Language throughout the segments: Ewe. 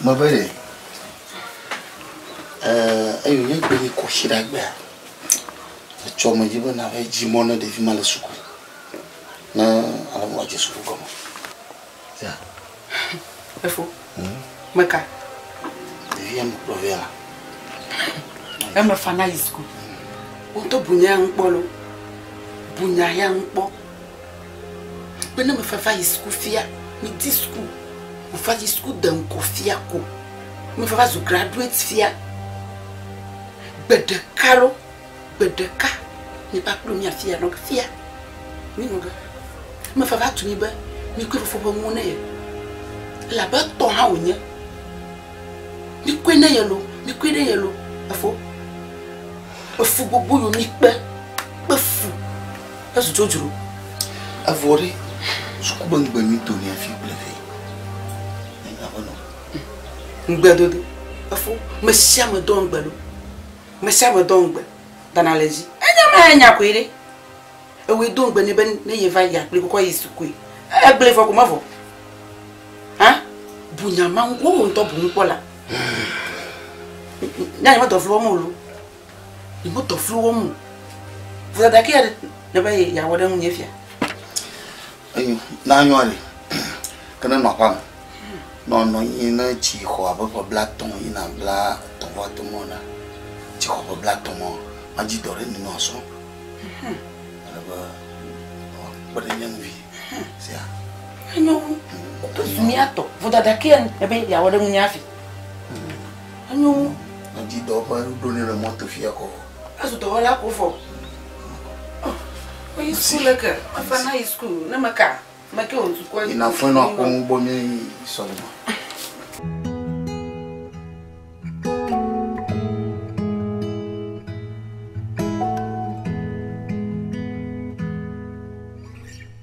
Mabele, eh, eyo nye gbe yi koshi ɖa gbea, etsɔ me dzi be na ve dzi mɔ ne ɖevi ma le suku. Ne ale mɔ dzi suku gɔme. Ya. Efo. Hmm. Meka. Ɖevi ya me kpɔ ve ya. Eme fana yi suku. Woto bunya ŋkpɔ lo. Bunya ya ŋkpɔ. Be ne meva va yi suku fia, medi suku, meva yi suku de ŋgɔ fia ko, meva va zu graduate fia, gbe ɖeka ɖo, gbe ɖeka mi va kplo mi afi ya nɔ fia. Mi nɔ be, meva va tu mi be mi koe fofo ƒe nuwo ne ye. Elabe etɔ hã wònye. Mi koe ne ye lo, mi koe ne ye lo, efo. Efu gbogbo yo mi kpe, kpe fu. Ezu dzodzro. Evɔ ɖe, suku be ŋugbe mi do mia fi kple ve. Enya be nɔ. Ŋugbe dodo. Efo, me sia me dɔ ŋugbe do. Me sia me dɔ ŋugbe. Dana le dzi. Enya me anya koe ɖe. Ewe do ŋugbe ne be ne ye va yi akpli kokɔ yi sukue. Egble vɔ ko me vɔ. Ha? Bu nya ma ŋu, wo ŋutɔ bu ŋu kpɔ la. Nya yi me dɔ vlɔ mo lo. Yewo dɔ flu wɔm o. Vɔe ɖe ke ya ne be yeawɔ ɖe ŋunye fia. Enyo, na nyɔa li. Ke ne nɔ aƒa me. Nɔ nɔ nyi ne tsi xɔ abe ƒe bla tɔ̃ yina bla tɔ̃ vɔ atɔ̃ mɔ na. Tsi xɔ ƒe bla tɔ̃ mɔ. Ma dzi dɔ ɖe ni nɔ asɔ. Ale be kpe ɖe nye ŋu vi. Sia. Enyo. Mia tɔ. Vɔdada ke ya ne be yeawɔ ɖe ŋunye afi. Enyo ŋu. Ŋdi dɔ ƒe ɖo ne le mɔto fia kɔ. Azu dɔwɔla ko fɔ. Oyi school le ke. Afa na yi school ne me ka. Me ke o ntu ko. Ina fun no akɔ ŋu bo mi sɔlima.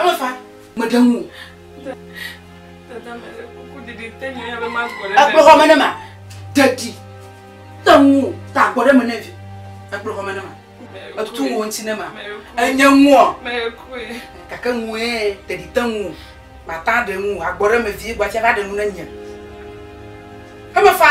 Emefa, meɖe ŋu. Dada mele kuku didi te nye ya be ma gbɔ ɖe. Ekplɔ xɔme ne ma. Dadi, te ŋu, ta gbɔ ɖe me ne vi. Ekplɔ xɔme ne ma. Etu ŋu ŋuti ne ma. Enye ŋuɔ. Mekue. Kake ŋue, dadi te ŋu. Mata ɖe ŋu, agbɔ ɖe me vie, gbatia va ɖe ŋu ne nye. Emefa.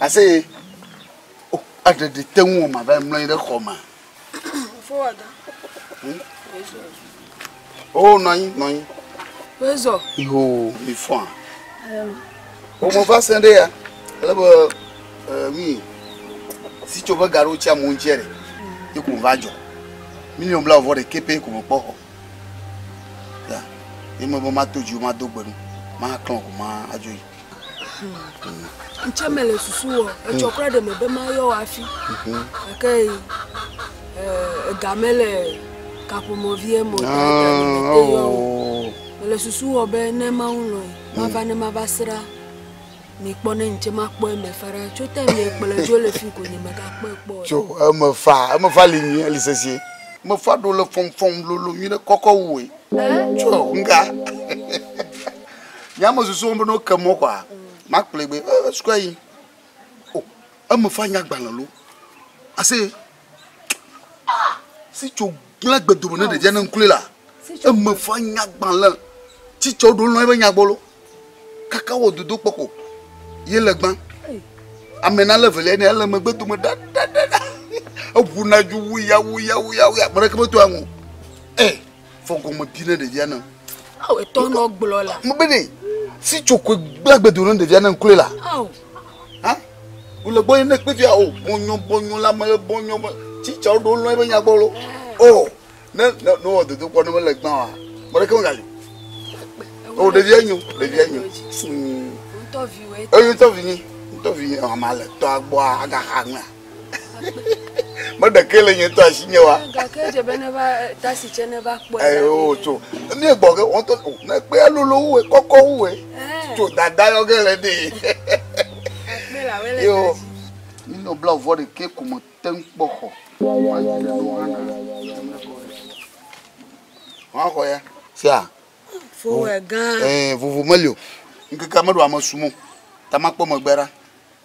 Aseye, O, aɖe ɖe te ŋu wòma va mlɔ anyi ɖe xɔ ma. Fowɔdɔ. Hmm? O, nɔ anyi, nɔ anyi. Wezɔ. Iho, mi fɔa. O, mo va sɛn ɖe ya. Ale be, mi, si tso be gaɖo tsia mo ŋutia ɖe, yi ko va dzɔ. Miliɔn bla vɔ ɖe kepe ko me kpɔ xɔ. Ya, yi me be ma to dzi, ma do gbenu, ma klɔn ko ma adzo yi. ŋtsɛ me le susu wɔ etsɔ kura ɖe me be ma yɔ wɔ afi gake ega me le kaƒomɔ vie mɔ ta yɔ me le susu wɔ be ne ma ŋu lɔ ma va ne ma va sra mi kpɔ ne ŋtsɛ ma kpɔ eme fa ɖa tso te mi kplɔ dzo le fi ko nye me ga kpɔ ekpɔ tso eme fa eme fa li nyi li sesie me fa ɖo le fɔm fɔm lolo nyi ɖe kɔkɔ wue tso ŋga Nye ame susu wɔm be ne woke mɔ kɔa, makplɔe be eh, sukua yi. O, oh, eme fa nya gbalẽ lo. Ase, ah, si tso gblẽ gbedome ne ɖevia ne ŋkule la, eme fa nya gbalẽ. Tsitsɔ ɖo lɔ ebe nya gbɔ lo. Kaka wɔ dodo kpɔ ko. Ye le gbã. Ame na le velia ne ele megbe dome da da da da. Eʋu na ju wuya wuya wuya wuya. Mene ke meto anu. Eh. Fɔ gɔme bi ne ɖevia ne. Aw etɔ nɔ gblɔ la. Mo bene si tso koe gblẽ gbedo ne ɖevia ne nklɔe la. Aw. Ha? Wòle gbɔ ye ne kpe fia o bɔnyɔ bɔnyɔ la me bɔnyɔ bɔ tsi tsa woɖo lɔ ebe nyagbɔ lo. O ne ne ne wɔ dodo kpɔ ne mele gbã wa mɔɖeke me gayo. O ɖevia nyo ɖevia nyo suu. Ŋutɔ vi wɔ. Eyi ŋutɔ vi nyi ŋutɔ vi nyi ɔmale tɔa gbɔa agaxa ŋmea. meɖekee le nye tɔ asi nye wa. gake edze be ne va tasi tse ne va kpɔe. ɛɛ o tso ne gbɔ ke wɔn tɔ ne kpea lolo wu kɔkɔ wu ɛ tso dada yɔ ge le de. akpɛ la wele yo minɔ bla vɔ de ke ko me te ŋu kpɔ xɔ. wa yi ɖe ɖo hana ɛmɛ kɔ ɖe wa xɔ ya. sia. fowɛ gã. ɛɛ vovo meli o ŋkeke meɖo ame sumɔ tamakpɔ megbe ɖa.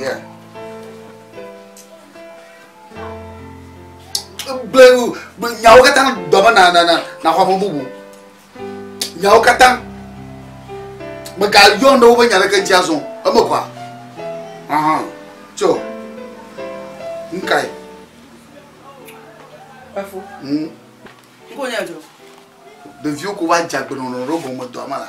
Yeah. Ble, ble, nyawo katã gbe be na na na na xɔ ame bubu. Nyawo katã. Megayɔ ne wobe nya ɖeke dzi azɔ. Eme kɔa. Aha. Tso. Nkae. Efu. Mm. Nkonya jo. Ɖeviwo ko va dze agbenɔnɔ ɖe gɔme dɔa ma la.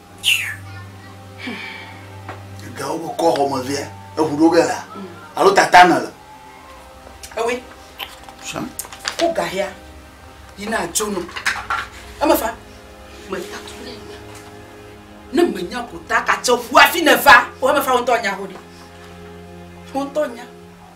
gawo kɔ xɔme via eʋu ɖo ge la alo tata nɔ le. ewe ko gahia yina dzo nɔ eme fa me tatu ne nya ne me nya ko ta ka tse ʋu afi ne fa o eme fa ŋutɔ nya ho ɖi ŋutɔ nya.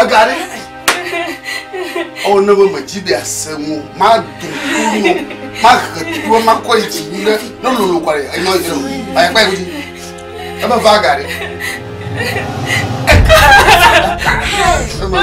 Ega ɖe. Ɔwɔ ne be medzi be ase ŋu, mado kunu, mahe tuwo, makɔ yi dzi ɖe ne lolo kɔ ɖe enye ɔyɛ o. Ɔyɛ kpa yi dzi. Ebe va ga ɖe. Mama!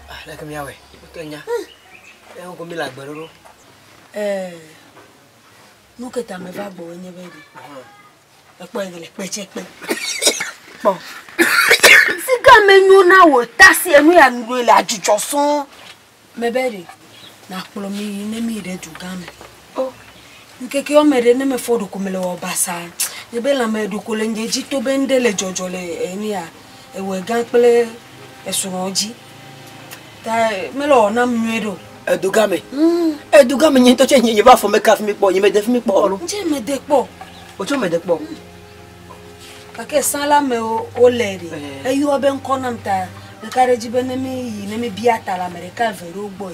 Aleke míawɔe? Wotɔ nya. Eye woko mi le agbe ɖoɖo. Eh, nu ke ta me va gbɔ nye be ɖi. Ekpɔ yi le kpe tse kpe. Kpɔ. Si ga me nyo na wo ta si enu ya nu le adzudzɔ sɔn. Me be ɖi. Na kplɔ mi yi ne mi ɖe du gã me. O, ŋkeke woame ɖe ne mefɔ ɖoko mele wɔ basa. Nye be lãme ɖoko le nye dzi to be ŋɖe le dzɔdzɔ le enia, ewɔe gã kple esrɔ̃ dzi. Ta mele wɔ nam nyuie ɖo. Edo game. Mm. Edo game nye ŋutɔ tse nye nye va fɔ meka fi mi kpɔ, nye me de fi mi kpɔ alo. Ŋtse me de kpɔ. Wotse me de kpɔ. Mm. Kake sã la me wo le ɖe. Eh. Eyɔ be ŋkɔ nam ta ɖeka ɖe dzi be ne mi yi ne mi bia ta la me ɖeka eve ɖewo gbɔe.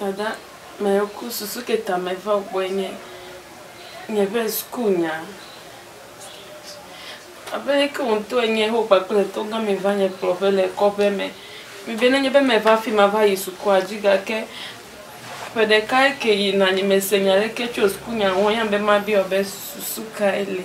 Dada mɛku susu ke tamɛ va gbɔɛ nye nyɛƒe sukuu nya. Abe ke wotɔ enye ho kpakple tɔ gã mɛ va nye kplɔ ƒe le kɔƒe mɛ. Mi be ne nye be mɛ va fi ma va yi sukua dzi gake ƒe ɖeka ke yi na nye me se nya ɖeke tso sukuu nya ŋu anya be ma biɔ be susu kae li.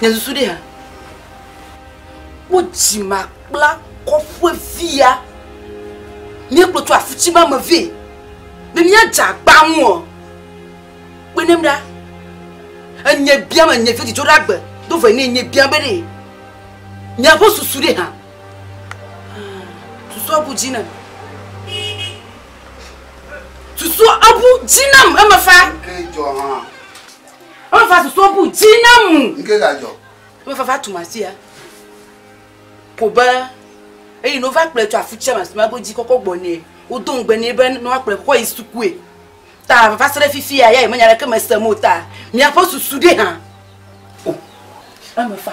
Nye susu ɖe ha. Wo dzima kpla kɔƒe via. Nye kplɔ tso afuti ma me vɛ. Ne mia dza gbamu o. Kpe ne mɖa. Enye bia me nye vedi dzora gbe. Do vɛ ne nye bia be ne. Nye ƒe susu ɖe ha. Susu abu dzi na. Susu abu dzi na me fa. Ke dzɔ ha. Ɔlɔ va susu ɔbu dzi na mu. Nke ga jɔ. Ɔlɔ va va tu ma sia. Ko be eyi no va kple tu afu tsia ma sima go dzi kɔkɔ gbɔ ne. O do ngbe ne be no akple kɔkɔ yi sukue. Ta va sere fifi ya ya yi menya le ke me se mo ta. Mia po susu de ha. O. Ame fa.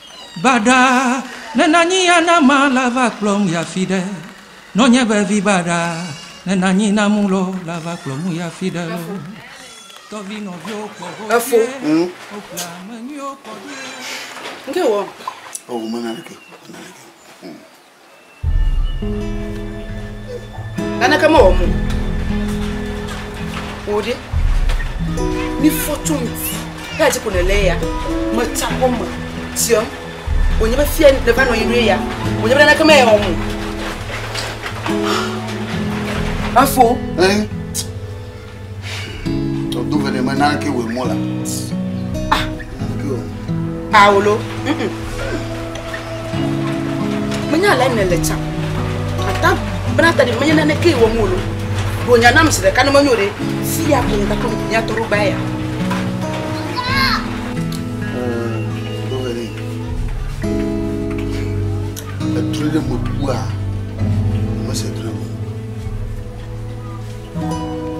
Baɖa, ne nanyi ya na ma la va kplɔm ya fi ɖe. Nɔ nye be vi baɖa, ne nanyi na mu lɔ la va kplɔ mu ya fi ɖe lɔ. Tɔvi nɔviwo kpɔ ho Efo. dzie, Ŋ. wo kple ame nyuiwo kpɔ ɖoe. Ŋke wɔ? Ɔ, wo me naneke o, me naneke o. Ŋ. Naneke mewɔ mo. Wò ɖe, mifɔ tso ŋuti eya dzi ko nèlé ya. Metsa kɔ me tiam. Wònye be fia nèva nɔ anyi ɖo ya. Wònye be naneke mewɔ mo. Afo. Eh? Todo vele me nanke we mola. Ah, nanke o. Paolo. Menya le ne le tsa. Ata bena ta de menya nane ke wo molo. Bo nya nam se de kanu menyo de. Si ya ko ta ko nya toro ba ya. Etre de mo bua.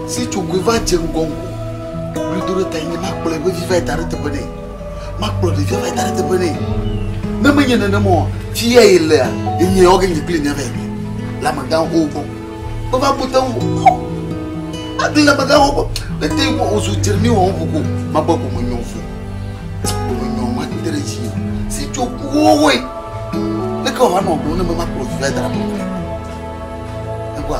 Si tso goe va dze ŋgɔ ŋgɔ. Wòli do ɖe ta nye makplɔe ƒe vi va da ɖe teƒe nɛ. Makplɔ ɖevia va da ɖe teƒe nɛ. Ne menye nenema o, fi ya ye lea, enye ya woage nye kple mia va yi ɖe. Le amegãwo xowo gbɔ. Meva bu te ŋu. Agli le amegãwo gbɔ. Ne te ŋu wòzu dzremi wɔ ŋu ko, magbe ko menyɔ fo. Menyɔ mate ɖe dzi me. Si tso kuwo woe. Ne ke wòava nɔ gblɔ ne memakplɔ vi va da ɖe teƒe nɛ. Ekpɔa?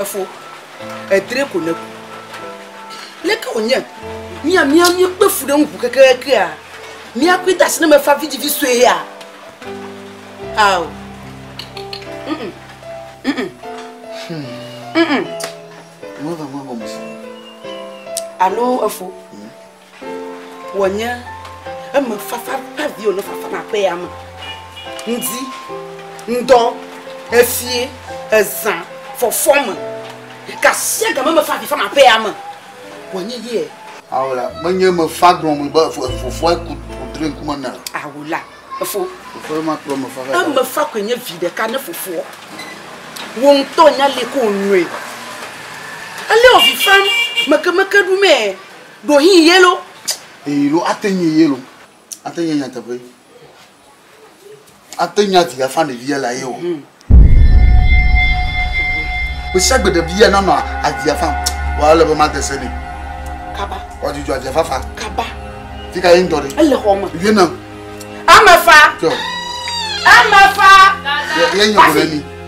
Efo, edre ko ne ku. Leke wònye mía mía míekpe fu ɖe ŋu kekeakea? Míakui de asi ne mefa vidzivi sue ya. Ao. Mm -mm. Mm -mm. Hmm. Mm -mm. Alo efo. Wònye eme fafa ƒe avi wònɔ fafa na ƒe ya me. Ŋdi, ŋdɔ, efie, ezã, fɔfɔ me. Kasia game me fa avi fa na ƒe ya me. Wònye yie. Awula, menye me fa gblɔm be fofoa ku kudre ŋkume na. Awula, efo. Fofoa ma kplɔ me fa. Eme fa koe nye vi ɖeka ne fofoa. Wo ŋutɔ nya le ko nue. Ele ovi fam mekemeke ɖumee. Ɖo hi yelo. Eyi lo ate nye yelo. Ate nye nyateƒe. Ate nya di afa ne via la ye o. Hmm. Bisia gbe de via na no adi afa. Wa le be ma dese ne. Kaba. Wa juju adi afa fa. Kaba. Fika ye ndo de. Ele homa. Ye na. Amafa. Amafa. Ye nyo ni.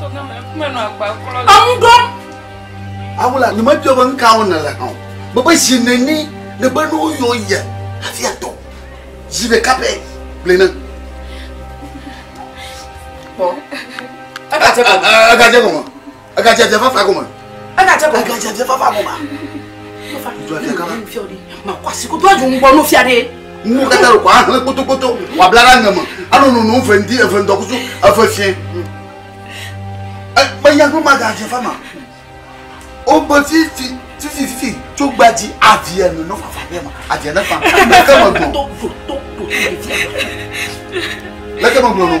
Enu ɖɔm. Awula, nye mebia be nu ka wɔm nèle hã o. Mebe zi neni nèbe ne woyɔ ye hafi atɔ. Zi ɖeka pɛ gblɔe nam. Kpɔ. Egadze gɔme. Egadze dze fafa gɔme. Egadze bɔ. Egadze bɔ fafa bɔ ma. Fafa. Jɔ kɛ kama. Fiɔ de. Ma kɔ asi ko do adu ŋgbɔ n'o fia de. Ŋu kata le kɔ ahle kpotokpoto wa bla la ŋɛmɛ. Anu nunu ŋfɛ ŋdi efe ŋdɔkusu efe fiɛ. Ekpe yagbɔ ma gadze fama. O bɛ fifi fifi fifi tso gbadzi aviɛ nu n'o fafa bɛ ma. Aviɛ ne fa. Leke me gbɔn. Leke me gbɔn no.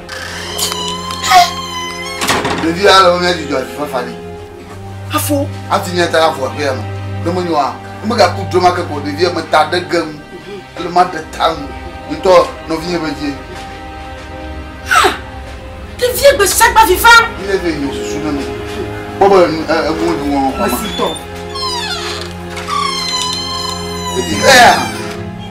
Ɖevi ya le wo mía dzidzɔ avi fafa ɖi. Afo. Ati mía ta afo aƒe ya me. Ne mo nyɔa, ne mo gaku dro ma ke ko ɖevi ya me ta ɖe gem. Ele ma ɖe ta nu. Ŋutɔ nɔvi ye be vie. Ɖevi ya gbe sagba vi fa. Ni le vie nyɔ susu ne mi. Bɔbɔ le nu ɛ ɛ mo du wɔn kɔma. Esi tɔ. Ɖevi ya.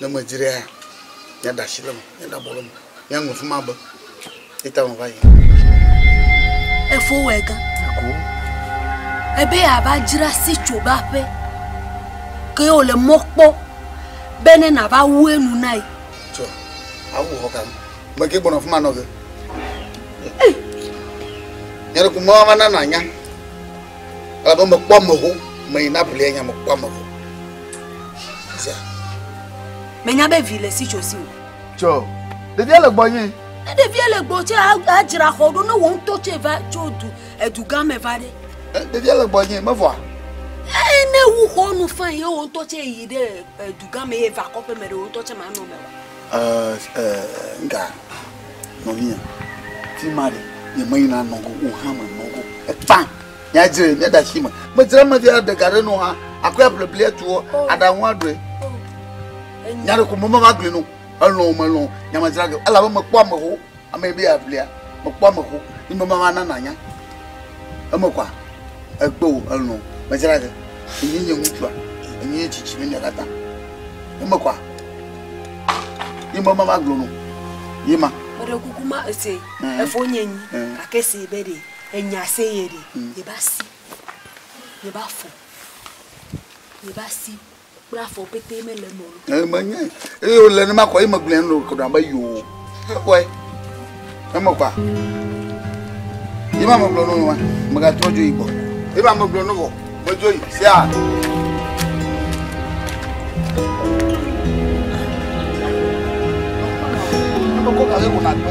Ne medi ɖe hã, míada asi ɖe eme, míada abɔ ɖe eme, míaŋlɔ fi ma be. Eyi ta meva yi. Efo wɛ gã. Eko. Ebe yeava dzra si tso be aƒe. Ke ye wòle mɔ kpɔ be ne nàva wu enu na ye. Tsɔ, awu xɔ kam. Meke gbɔnɔ fi ma nɔ ge. Nyɔɖeku mɔa va na nànya. Elabe mekpɔ ame ho, meyi na blia nya mekpɔ ame ho. Zia. Menya be vi le si tso si o. Tsɔ, ɖevia le gbɔ nye. Ne ɖevia le gbɔ tse adzra xɔ ɖo ne wɔn ŋutɔ tse va tso du edu gã me va ɖe. Ɖevia le gbɔ nye mevɔa. Ee ne wu xɔ nu fã ye wɔn ŋutɔ tse yi ɖe edu gã me ye va kɔƒe me ɖe wɔn ŋutɔ tse manɔ me wa. Ɛɛ ɛɛ nga. nɔvinyɛ fima ɖe nye me yina nɔ go o hã me nɔ go efã ya dzre mi da shi me me dzre me dia de gare no ha akɔ ya blebli etu o ada ŋu aɖoe nya ɖe ko mo mama gbe no elɔ o melɔ nya me dzra ge ela be me kpɔ ame ho ame be ya blia me kpɔ ame ho ni me mama nana nya eme kwa Egbe wò elɔ̃ medzra ge. Enye nye ŋutsua, enye nye tsitsi me nya katã. Eme kɔa? Ye ma ma magblɔ no. Ye ma. Meɖe kuku ma ese efo nye nyi gake se be ɖe enya se ye ɖe ye ba si ye ba fo ye ba si. Kple afɔ pete mele eme o. Ee, menye. Eye wòle nenema kɔ, eye megblɔe nu ɖe kodam be yoo. Ekpɔe. Eme kɔa. Ye ma megblɔ nu ma, megatrɔ dzo yi gbɔ. Ye ma megblɔ nu vɔ, medzo yi. Sia. Mekɔ gake ko nàgbe.